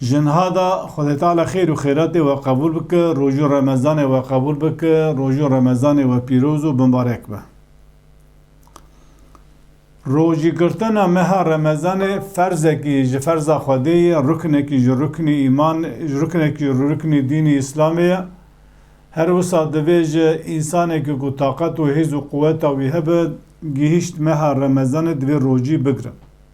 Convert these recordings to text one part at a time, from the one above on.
Jinhada Xwedê Teala xêr û xêratê we qebûl bike, roj û remezanê we qebûl bike, roj û remezanê we pîroz û bimbarek be. Rojîgirtina meha remezanê ferzekî ji ferza Xwedê ye, ruknekî ji ruknî îman, ruknekî ji ruknî dînî Îslamê ye. Her wisa divê ji însanekî ku taqet û hêz û quweta wî hebe, gihîşt meha remezanê divê rojî bigire.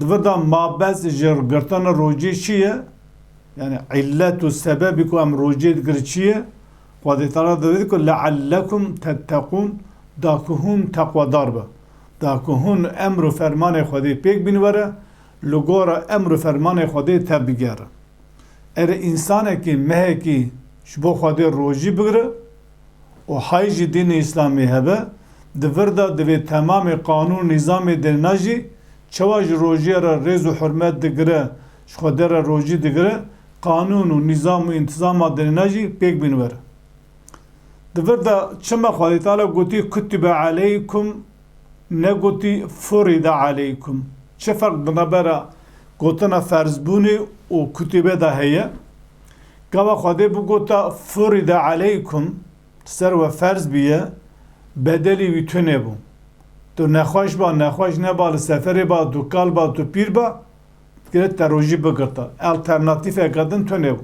Dibirda mabez ji girtana rojê çi ye? Yani illet û sebebî ku em rojê digirin çi ye? Xwedê Teala divêt ku leellekum tetteqûn da ku hûn teqwedar bin. Da ku hûn emr û fermanê Xwedê pêk bîn were, li gora emr û fermanê Xwedê tev bigerin. Erê însanekî, mehekî ji bo Xwedê rojî bigire, û hay jî dînê îslamî hebe, di vir de divê temamê qanûn û nîzamê dêrna jî çawa ji rojiyê re rêz û hurmet digire, ji xwe derre rojî digire, qanûn û nîzam û întîzama dêrna jî pêk bîn were. Di vir de çima Xwedê Teala gotî kutibe aleykum negotî furide aleykum? Çi ferq di navbera gotina ferzbûnê û kutibe de heye? Gava Xwedê bû gota furide aleykum, li ser we ferz bûye, bedelî wî tune bû. Tu nexweş ba, nexweş neba, li seferê ba, tu kal ba, tu pîr ba, divê te rojî bigirta. Alternatîfeke din tune bû.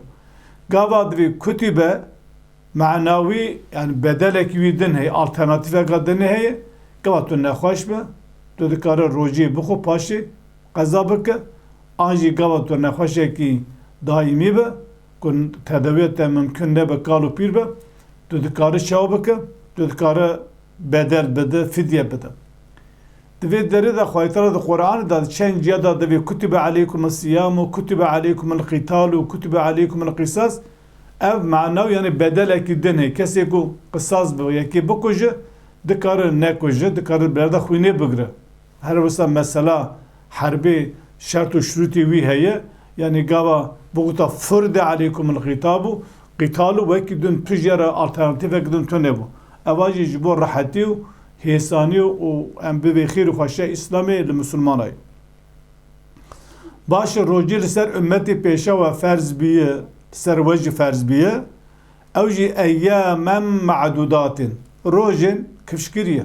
Gava divê kutî be, manawî yanî bedelekî wî din heye, alternatîfeke dinê heye, gava tu nexweş be, tu dikare rojiyê bixwe paşê, Qeza bike an jî gava tu nexweşekî daîmî be ku tedawîya te mimkun nebe kal û pîr be, tu dikare çawa bike? Tu dikare bedel bide, fidye bide. Di vê derê de Xwedî Teala di Quranê de di çend ciya de divê kutibe aleykum'es-siyamu, kutibe aleykum'l-qîtalu, kutibe aleykum'l-qisas ev mana û yanî bedelekî din heye. Kesê ku qisas bi yekê bikuje dikare nekuje, dikare bi berde xwînê bigire. Her wisa mesela herbê şert û şirûtê wî heye, yanî gava biguta furide aleykumul qîtabu, qîtalu wekî din tu jê re alternatîfek din tunebû. Eva jî ji bo rehetî û hêsanî û em bibê xêr û xweşiya Îslamê li misilmanay. Baş e rojê li ser ummetê pêşa we ferz bîye, li ser we jî ferz bîye, ew jî eyyamen me'dudatin, rojên kifşkirî ye.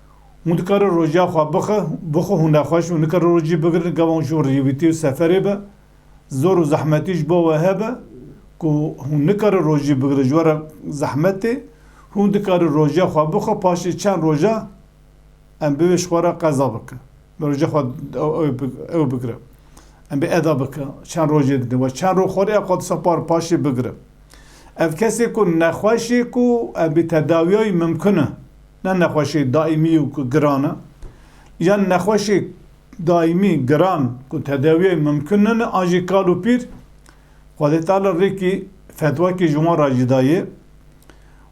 Hûn dikarin roja xwe bixin, bixwe hûn nexweş û nikarin rojî bigirin gava hûn ji bo rêwîtî û seferê be zor û zehmetî ji bo we hebe ku hûn nikarin rojî bigirin ji we re zehmet tê. Hûn dikarin roja xwe bixin paşê çend roja em bi wê ji xwe re qeza bikin. Bi roja xwe ew bigirin. Em bê eda bikin çend rojê didin we çend roj xwe rê qadisa par paşê bigirin. Ev kesê ku nexweş ê ku em bê tedawiyayî mimkin e. Ne nexweşê daîmî yo ku giran e, yan nexweşê daîmî giran ku tedawiyê mimkun nine an jî kal û pîr, Xwedê teala rêkî fetwakî ji wan re jî daye,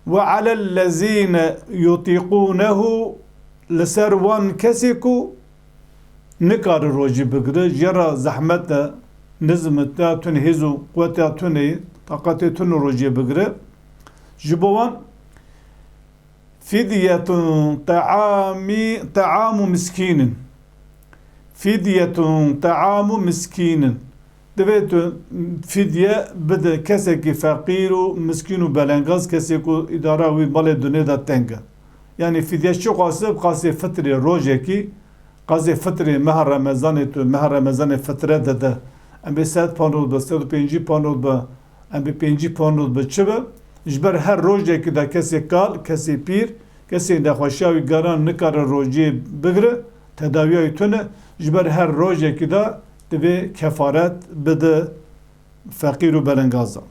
Ve alellezîne yutîqûnehu li ser wan kesê ku nikare rojî bigire, jê re zehmet e, nizm e, tê ya tune hêz û quweta tune ye, taqetê tune rojê bigire, ji bo wan. Fidyetun teamî teamu miskînin Fidyetun teamu miskînin Divê tu fidye bide kesekî feqîr û miskîn û belengaz kesê ku îdara wî malê dunê de teng e. Yanî fidye çi dixwaze? Dixwaze fitrê rojekî qazê fitrê meha remezanê tu meha remezanê fitre dide. Em bê sed ponot be sed û pêncî ponot be Em bi pêncî pano bi çi be? Ji ber her rojekî de kesê kal, kesê pîr, kesê nexweşiya wî geran nikare rojiyê bigire, tedawiya wî tune, ji ber her rojekî de divê kefaret bide feqîr û belengazan.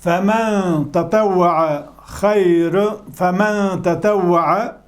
Femen tetewwee xeyr, femen tetewwee.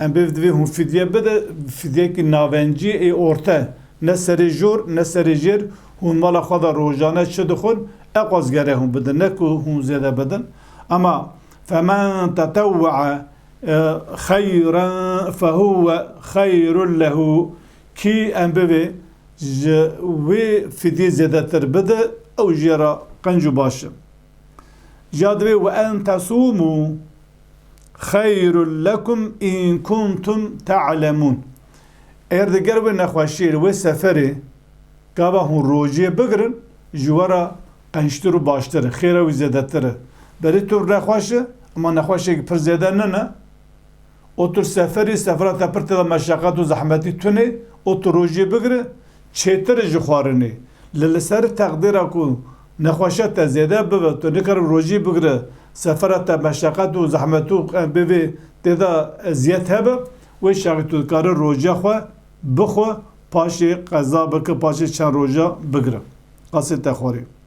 Em pê divê hûn fidye bidin, fidyekî navencî ê orte, ne serê jor, ne serê jêr, hûn mala xwe de rojane çi dixwin, eqwaz gere hûn bidin, ne ku hûn zêde bidin. Ama femen tetewwee xeyren fehuwe xeyrun lehu, kî em bivê ji wê fidyê zêdetir bide, ew jê re qenc û baş e. Jî ya divê, Ve en tesûmû. xeyrun lekum in kuntum te'lemun. Eger de ger wê nexweşiyê li wê seferê gava hûn rojiyê bigirin ji we re qençtir û baştir e, xêra wî zêdetir e. Berê tu nexweş î, ema nexweşiyek pir zêde nine û tu li seferî, sefera te pir tê de meşeqet û zehmetî tunê û tu rojiyê bigire, Çêtir ji xwarinê. Li li ser teqdîra ku nexweşiya te zêde bibe tu nikaribî rojî bigire sefera te meşeqet û zehmet û bi vê tê de eziyet hebe wê şerî tu dikare roja xwe bixwe paşê qeza bike paşê çend roja bigire qasê te xwarê.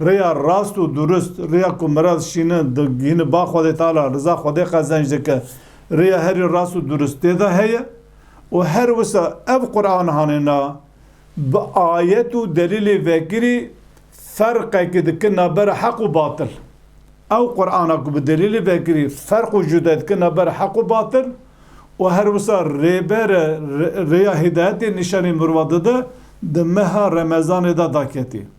Rêya rast û durust, rêya ku miraz şîne digihîne ba Xwedê Teala, riza Xwedê qezenc dike, rêya herî rast û durust tê de heye û her wisa ev Quran hane na, bi ayet û delîlê vekirî ferqekî dike navbera heq û batil. Ew Qurana ku bi delîlê vekirî ferq û cude dike navbera heq û batil û her wisa rêber e, rêya hîdayetê nîşanî mirova dide, di meha Remezanê de daketî.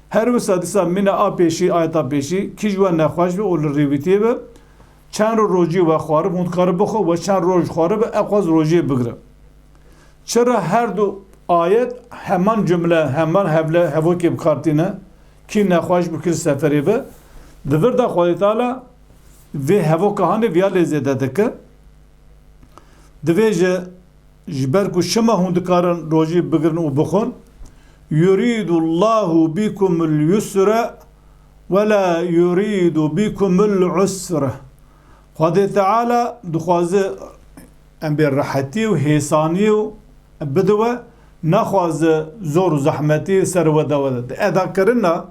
Her wisa disa mîna a pêşî ayeta pêşî kî ji we nexweş be û li rêwîtiyê be, çend roj rojiyê we xwarib hûn dikarin bixwin we çend roj xwarib e xwaz rojiyê bigirin. Çira her du ayet heman cumle heman hevle hevokê bikar tîne, kî nexweş bi kir seferê be, di vir de Xwedê Teala vê hevoka hanê viya lê zêde dike. Divê ji. Ji ber ku şima hûn dikarin rojî bigirin û bixwin, Yurîdu Llahu bîkumul yusre we la yurîdu bîkumul usre, Xwedê Teala dixwaze em bê rehetî û hêsaniyê û bide we, naxwaze zor û zehmetî li ser we dawe de. Di edakirina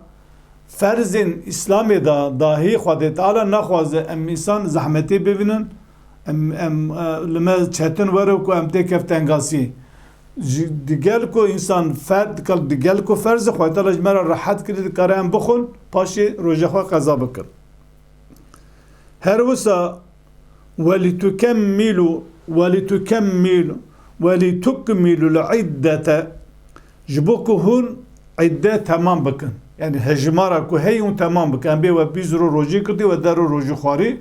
ferzên Îslamê de dahî Xwedê Teala naxwaze em însan zehmetê bibînin Em em li me çetin were ku em tê kef tengasî ji di gel ku însan fer dikal di gel ku ferz e Xwedayê Teala ji me re rehet kirî dikare em bixwin paşê roja xwe qeza bikin. Her wisa Welîtukemmilu Welîtukemmilu Welîtukmilu l-îddete ji bo ku hûn îdde temam bikin. Yanî hejimara ku heyî hûn temam bikin. Em bê we bîst roj rojî kirtî we deh roj rojî xwarî.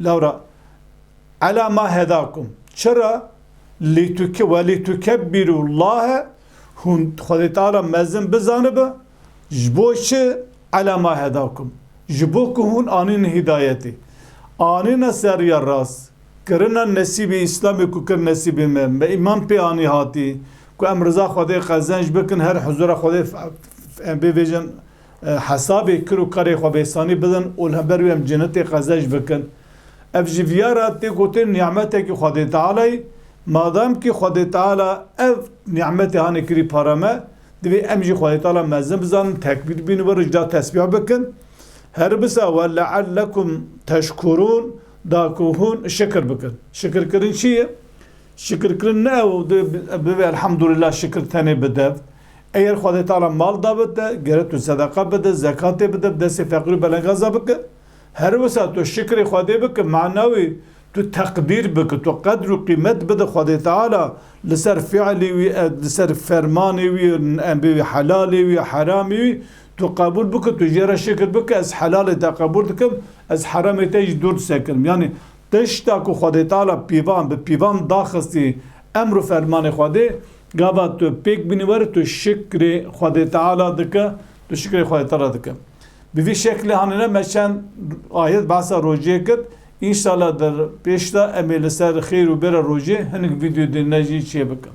Laura, Ala ma hedakum, çira lîtuke welîtukebbiru Llahe hûn Xwedê Teala mezin bizanibe, ji bo çi Ala ma hedakum, ji bo ku hûn anînin hîdayetê, anîne ser riya rast, kirine nesîbê Îslamê ku kir nesîbê me, me îman pê anî hatî ku em riza Xwedê qezenc bikin her huzura Xwedê bê vejin Hesabê kir û karê xwe vêsanî bidin û li hember wê em cenetê qezeş bikin. Ev ji viya re tê gotin nîmetekî Xwedê Tealayî. Madamkî Xwedê Teala ev nîmetê hanê kirî para me, divê em jî Xwedê Teala mezin bizanin, tekbîr bînin wir ji da tesbîh bikin. Her bisa we leellekum teşkurûn da ku hûn şikir bikin. Şikirkirin çi ye? Şikirkirin ne ew bibe elhamdulillah şikir tenê bi dev. Eger Xwedê tara mal dabe te, gere tu sedeqa bide, zekatê bide, bi destê feqîr û belengaza bike. Her wisa tu şikrê Xwedê bike, mana wî tu teqdîr bike, tu qedr û qîmet bide Xwedê Teala li ser fiilê wî, li ser fermanê wî, em bêjin helalê wî, heramê wî, tu qebûl bike, tu jê re şikir bike, ez helalê te qebûl dikim, ez heramê te jî dûr disekirim. Yanî tişta ku Xwedê Teala pîvan bi pîvan daxistî emr û fermanê Xwedê, Gava tu pêk bînî were tu şikrê Xwedê Teala dike, tu şikrê Xwedê Teala dike. Bi vî şeklê hanine me çend ayet behsa rojê kir. Înşala der pêş de em ê li ser xêr û bêra rojê hinek vîdyoyê din ne jî çêbikin.